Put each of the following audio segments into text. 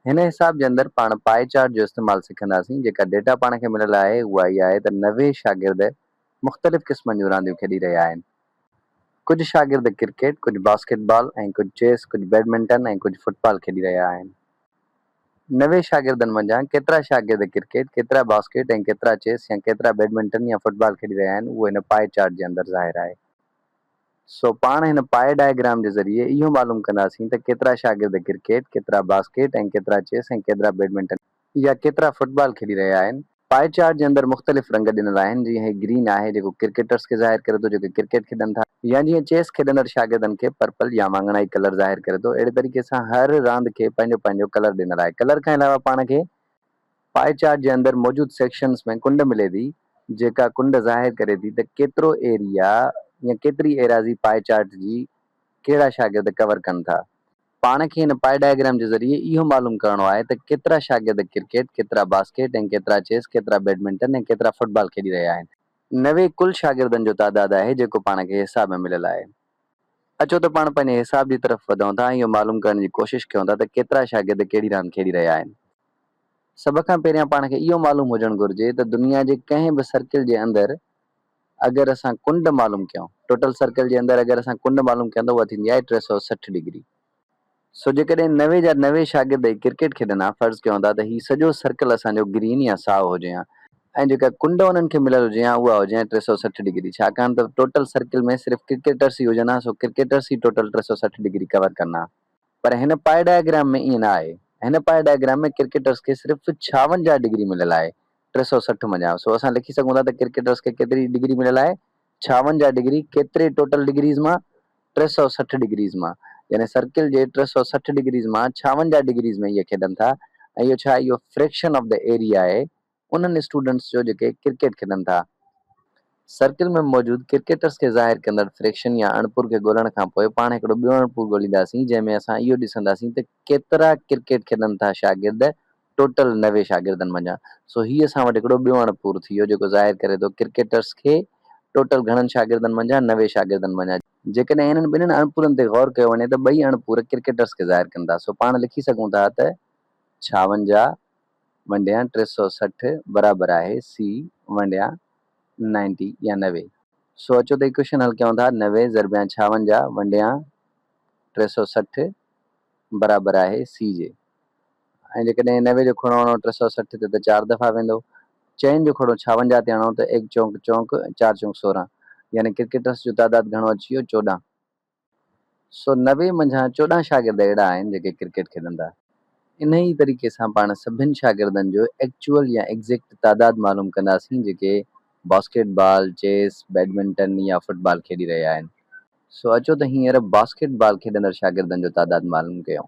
هن حساب جي اندر پاڻ پائي چارٽ جو استعمال سکنداسين. جيڪا ڊيٽا پاڻ کي مليل آهي اها اها آهي ته نوي شاگرد مختلف قسمن جون رانديون کيڏي رهيا آهن. ڪجهه شاگرد ڪرڪيٽ، ڪجهه باسڪيٽ بال ۽ ڪجهه چيس، ڪجهه بيڊمنٽن ۽ ڪجهه فٽ بال کيڏي رهيا آهن. نوي شاگردن منجهان ڪيترا شاگرد ڪرڪيٽ، ڪيترا باسڪيٽ ۽ ڪيترا چيس يا ڪيترا بيڊمنٽن يا فٽ بال کيڏي رهيا آهن اهو هن پائي چارٽ جي اندر ظاهر آهي. سو پاڻ هن پائي ڊائگرام جي ذريعي اهو معلوم ڪنداسين ته ڪيترا شاگرد ڪرڪيٽ، ڪيترا باسڪيٽ ۽ ڪيترا چيس ۽ ڪيترا بيڊمنٽن يا ڪيترا فٽبال کيڏي رهيا آهن. پائي چارٽ جي اندر مختلف رنگ ڏنل آهن جيئن هي گرين آهي جيڪو ڪرڪيٽرز کي ظاهر ڪري ٿو جيڪي ڪرڪيٽ کيڏن ٿا يا جيئن چيس کيڏندڙ شاگردن کي پرپل يا واڱڻائي ڪلر ظاهر ڪري ٿو اهڙي طريقي سان هر راند کي پنهنجو پنهنجو ڪلر ڏنل آهي ڪلر کان علاوه پاڻ کي پائي چارٽ جي اندر موجود سيڪشنز ۾ ڪنڊ ملي ٿي جيڪا ڪنڊ ظاهر ڪري ٿي ته ڪيترو ايريا يا ڪيتري ايراضي پائي چارٽ جي ڪهڙا شاگرد ڪور ڪن ٿا. پاڻ کي هن پائي ڊائگرام جي ذريعي اهو معلوم ڪرڻو آهي ته ڪيترا شاگرد ڪرڪيٽ، ڪيترا باسڪيٽ ۽ ڪيترا چيس، ڪيترا بيڊمنٽن ۽ ڪيترا فٽبال کيڏي رهيا آهن. نوي ڪل شاگردن جو تعداد آهي جيڪو پاڻ کي حصاب ۾ مليل آهي. اچو ته پاڻ پنهنجي حساب جي طرف وڌون ٿا ۽ اهو معلوم ڪرڻ جي ڪوشش ڪيون ٿا ته ڪيترا شاگرد ڪهڙي راند کيڏي رهيا آهن. سڀ کان پهريان پاڻ کي اهو معلوم هجڻ گهرجي ته دنيا جي ڪنهن به سرڪل جي اندر اگر اسان ڪنڊ معلوم ڪيون، Total Circle، جي اندر اگر اسان ڪنڊ معلوم ڪيون ته اها ٿيندي آهي ٽي سؤ سٺ ڊگري. سو جيڪڏهن نوي جا نوي شاگرد هي ڪرڪيٽ کيڏن ها، فرض ڪيون ٿا ته هي سڄو سرڪل اسان جو گرين يا سائو هجي ها ۽ جيڪا ڪنڊ انهن کي مليل هجي ها اها هجي ها ٽي سؤ سٺ ڊگري ڇاڪاڻ ته ٽوٽل سرڪل ۾ صرف ڪرڪيٽرس ئي هجن ها سو ڪرڪيٽرس ئي ٽوٽل ٽي سؤ سٺ ڊگري ڪور ڪن ها. پر هن پائي ڊائگرام ۾ ائين نه آهي. هن پائي ڊائگرام ۾ ڪرڪيٽرس کي صرف ڇاونجاهه ڊگري مليل آهي ٽي سؤ سٺ منجهان سو اسان لکي سگهون ٿا ته ڪرڪيٽرس کي ڪيتري ڊگري مليل آهي ڇاونجاهه ڊگري ڪيتري ٽوٽل ڊگريز مان؟ ٽي سؤ سٺ ڊگريز مان يعني سرڪل جي ٽي سؤ سٺ ڊگريز مان ڇاونجاهه ڊگريز ۾ اهي کيڏن ٿا ۽ اهو ڇا اهو فريڪشن آف دي ايريا آهي انهن اسٽوڊنٽس جو جيڪي ڪرڪيٽ کيڏن ٿا ۽ سرڪل ۾ موجود ڪرڪيٽرس کي ظاهر ڪندڙ فريڪشن يا اڻپور کي ڳولڻ کان پوء پاڻ هڪڙو ٻيو اڻپور ڳولينداسين جنهن ۾ اسان اهو ڏسنداسين ته ڪيترا ڪرڪيٽ کيڏن ٿا شاگرد ٽوٽل نوي شاگردن منجهان سو هي اسان وٽ هڪڙو ٻيو اڻپور ٿي ويو جيڪو ظاهر ڪري ٿو ڪرڪيٽرس کي ٽوٽل گهڻن شاگردن منجهان نوي شاگردن منجهان جيڪڏهن انهن ٻنهن اڻپورن تي غور ڪيو وڃي ته ٻئي اڻپور ڪرڪيٽرس کي ظاهر ڪن ٿا سو پاڻ لکي سگهون ٿا ته ڇاونجاهه ونڊيان ٽي سؤ سٺ برابر آهي سي ونڊيان نائنٽي يا نوي. سو اچو ته ايڪويشن حل ڪيون ٿا نوي ضربيان ڇاونجاهه ونڊيان ٽي سؤ سٺ برابر آهي سي جي ۽ جيڪڏهن نوي جو کڙو هڻو ٽي سؤ سٺ تي ته چار دفعا ويندو، چئن جو کڙو ڇاونجاهه تي هڻو ته ايڪ چونڪ چونڪ، چار چونڪ سورهن، يعني ڪرڪيٽرس جو تعداد گهڻو اچي ويو چوڏهن. سو نوي منجهان چوڏهن شاگرد اهڙا آهن جيڪي ڪرڪيٽ کيڏندا. انهيء ئي طريقي سان پاڻ سڀن شاگردن جو ايڪچوئل يا ايگزيڪٽ تعداد معلوم ڪنداسين جيڪي باسڪيٽ بال، چيس، بيڊمنٽن يا فٽ بال کيڏي رهيا آهن. سو اچو ته هينئر باسڪيٽ بال کيڏندڙ شاگردن جو تعداد معلوم ڪيون.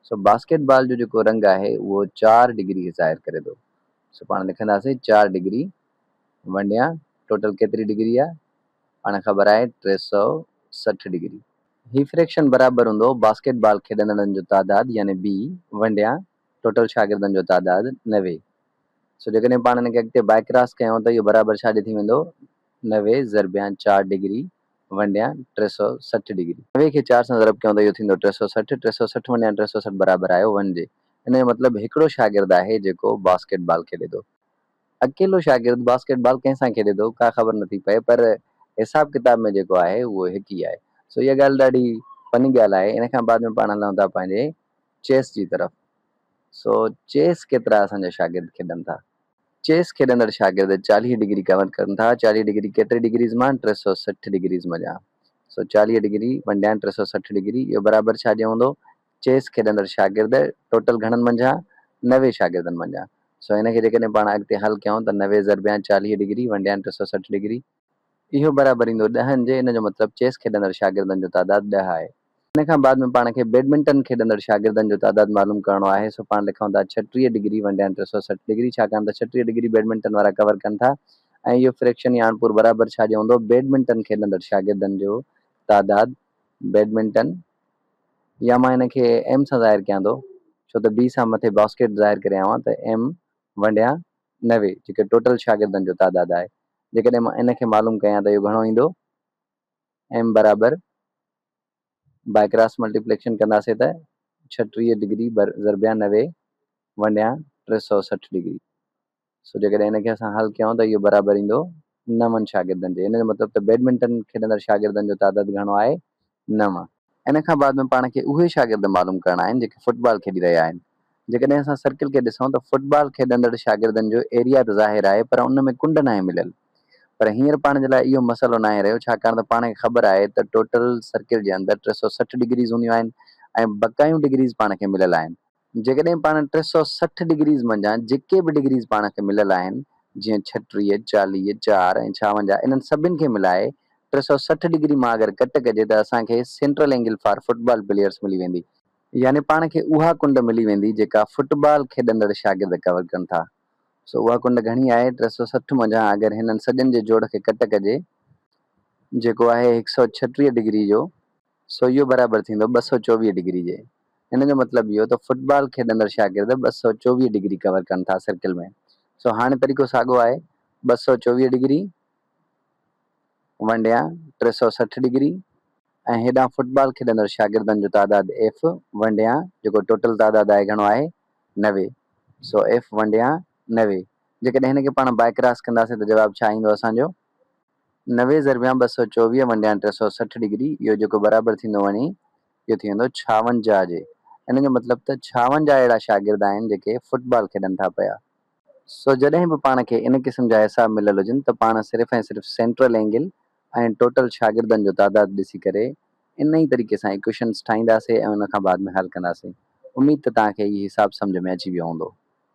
سو باسڪيٽ بال جو جيڪو رنگ آهي اهو چار ڊگري کي ظاهر ڪري ٿو سو پاڻ لکنداسين چار ڊگري ونڊيان ٽوٽل ڪيتري ڊگري آهي پاڻ خبر آهي ٽي سؤ سٺ ڊگري. هي فريڪشن برابر هوندو باسڪيٽ بال کيڏندڙن جو تعداد يعني بي ونڊيان ٽوٽل شاگردن جو تعداد نوي سو جيڪڏهن پاڻ هن کي اڳتي بائڪراس ڪيون ته اهو برابر ڇا جي ٿي ويندو نوي ضربيان چار ڊگري ونڊيان ٽي سؤ سٺ ڊگري. نوي کي چار سان ضرب ڪيون ته اهو ٿيندو ٽي سؤ سٺ، ٽي سؤ سٺ ونڊيان ٽي سؤ سٺ برابر آيو ون جي. ان جو مطلب هڪڙو شاگرد آهي جيڪو باسڪيٽ بال کيڏي ٿو. اڪيلو شاگرد باسڪيٽ بال ڪنهن سان کيڏي ٿو ڪا خبر نٿي پئي پر حساب ڪتاب ۾ جيڪو آهي اهو هڪ ئي آهي. سو اها ڳالهه ڏاڍي فني ڳالهه آهي. ان کان بعد ۾ پاڻ هلون ٿا پنهنجي چيس جي طرف. سو چيس ڪيترا اسان جا شاگرد کيڏن ٿا. چيس کيڏندڙ شاگرد چاليهه ڊگري ڪور ڪرن ٿا، چاليهه ڊگري ڪيٽري ڊگريز مان ٽي سؤ سٺ ڊگريز مڃان سو چاليهه ڊگري ونڊيان ٽي سؤ سٺ ڊگري اهو برابر ڇا جي هوندو چيس کيڏندڙ شاگرد ٽوٽل گهڻن منجهان نوي شاگردن منجهان سو ان کي جيڪڏهن پاڻ اڳتي حل ڪيائون ته نوي ضربيان چاليهه ڊگري ونڊيان ٽي سؤ سٺ ڊگري اهو برابريندو ڏهن جي ان جو مطلب چيس کيڏندڙ شاگردن جو تعداد ڏهه آهي. ان کان بعد ۾ پاڻ کي بيڊمنٽن کيڏندڙ شاگردن جو تعداد معلوم ڪرڻو آهي سو پاڻ لکون ٿا ڇٽيهه ڊگري ونڊيان ٽي سؤ سٺ ڊگري ڇاڪاڻ ته ڇٽيهه ڊگري بيڊمنٽن وارا ڪور ڪن ٿا ۽ اهو فريڪشن يا اڻپور برابر ڇا جو هوندو بيڊمنٽن کيڏندڙ شاگردن جو تعداد بيڊمنٽن يا مان ان کي ايم سان ظاهر ڪيان ٿو ڇو ته بي سان مٿي باسڪيٽ ظاهر ڪري آيو آهيان ته ايم ونڊيان نوي جيڪي ٽوٽل شاگردن جو تعداد آهي جيڪڏهن مان ان کي معلوم ڪيان ته اهو گهڻو ايندو ايم برابر بائي ڪراس ملٽيپليڪشن ڪنداسي ته ڇٽيهه ڊگري بر ضربيان نوي ونڊيان ٽي سؤ سٺ ڊگري سو جيڪڏهن ان کي اسان حل ڪيون ته اهو برابر ايندو نون شاگردن جي. ان جو مطلب ته بيڊمنٽن کيڏندڙ شاگردن جو تعداد گهڻو آهي، نون. ان کان بعد ۾ پاڻ کي اهي شاگرد معلوم ڪرڻا آهن جيڪي فٽبال کيڏي رهيا آهن. جيڪڏهن اسان سرڪل کي ڏسون ته فٽبال کيڏندڙ شاگردن جو ايريا ته ظاهر آهي پر ان ۾ ڪنڊ ناهي مليل. پر هينئر پاڻ جي لاء اهو مسئلو ناهي رهيو ڇاڪاڻ ته پاڻ کي خبر آهي ته ٽوٽل سرڪل جي اندر ٽي سؤ سٺ ڊگريز هونديون آهن ۽ بقايون ڊگريز پاڻ کي مليل آهن. جيڪڏهن پاڻ ٽي سؤ سٺ ڊگريز منجهان جيڪي به ڊگريز پاڻ کي مليل آهن، جيئن ڇهٽيهه، چاليهه، چار ۽ ڇاونجاهه انهن سڀن کي ملائي ٽي سؤ سٺ ڊگري مان اگر ڪٽ ڪجي ته اسان کي central angle for football players ملي ويندي. يعني پاڻ کي اها ڪنڊ ملي ويندي جيڪا فٽبال کيڏندڙ شاگرد ڪور ڪن ٿا. سو اها ڪنڊ گهڻي آهي ٽي سؤ سٺ منجهان اگر هنن سڄن جي جوڙ کي ڪٽ ڪجي جيڪو آهي هڪ سؤ ڇهٽيهه ڊگري جو سو اهو برابر ٿيندو ٻه سؤ چوويهه ڊگري جي. ان جو مطلب اهو ته فٽبال کيڏندڙ شاگرد ٻه سؤ چوويهه ڊگري ڪور ڪن ٿا سرڪل ۾. سو هاڻي طريقو ساڳو آهي، ٻه سؤ چوويهه ڊگري ونڊيان ٽي سؤ سٺ ڊگري ۽ هيڏانهن فٽبال کيڏندڙ شاگردن جو تعداد ايف ونڊيان جيڪو ٽوٽل تعداد آهي گهڻو آهي نوي. سو ايف ونڊيان نوي. جيڪڏهن هن کي پاڻ بائڪراس ڪنداسين ته جواب ڇا ايندو اسان جو؟ نوي ضربيان ٻه سؤ چوويهه ونڊيان ٽي سؤ سٺ ڊگري اهو جيڪو برابر ٿيندو وڃي اهو ٿي ويندو ڇاونجاهه جي ان جو مطلب ته ڇاونجاهه اهڙا شاگرد آهن جيڪي فٽ بال کيڏن ٿا پيا سو جڏهن به پاڻ کي ان قسم جا حساب مليل هجن ته پاڻ صرف ۽ صرف سينٽرل اينگل ۽ ٽوٽل شاگردن جو تعداد ڏسي ڪري ان ئي طريقي سان ايڪويشنس ٺاهينداسي ۽ ان کان بعد ۾ حل ڪنداسي اميد ته توهان کي هي حساب سمجهه ۾ اچي ويو هوندو.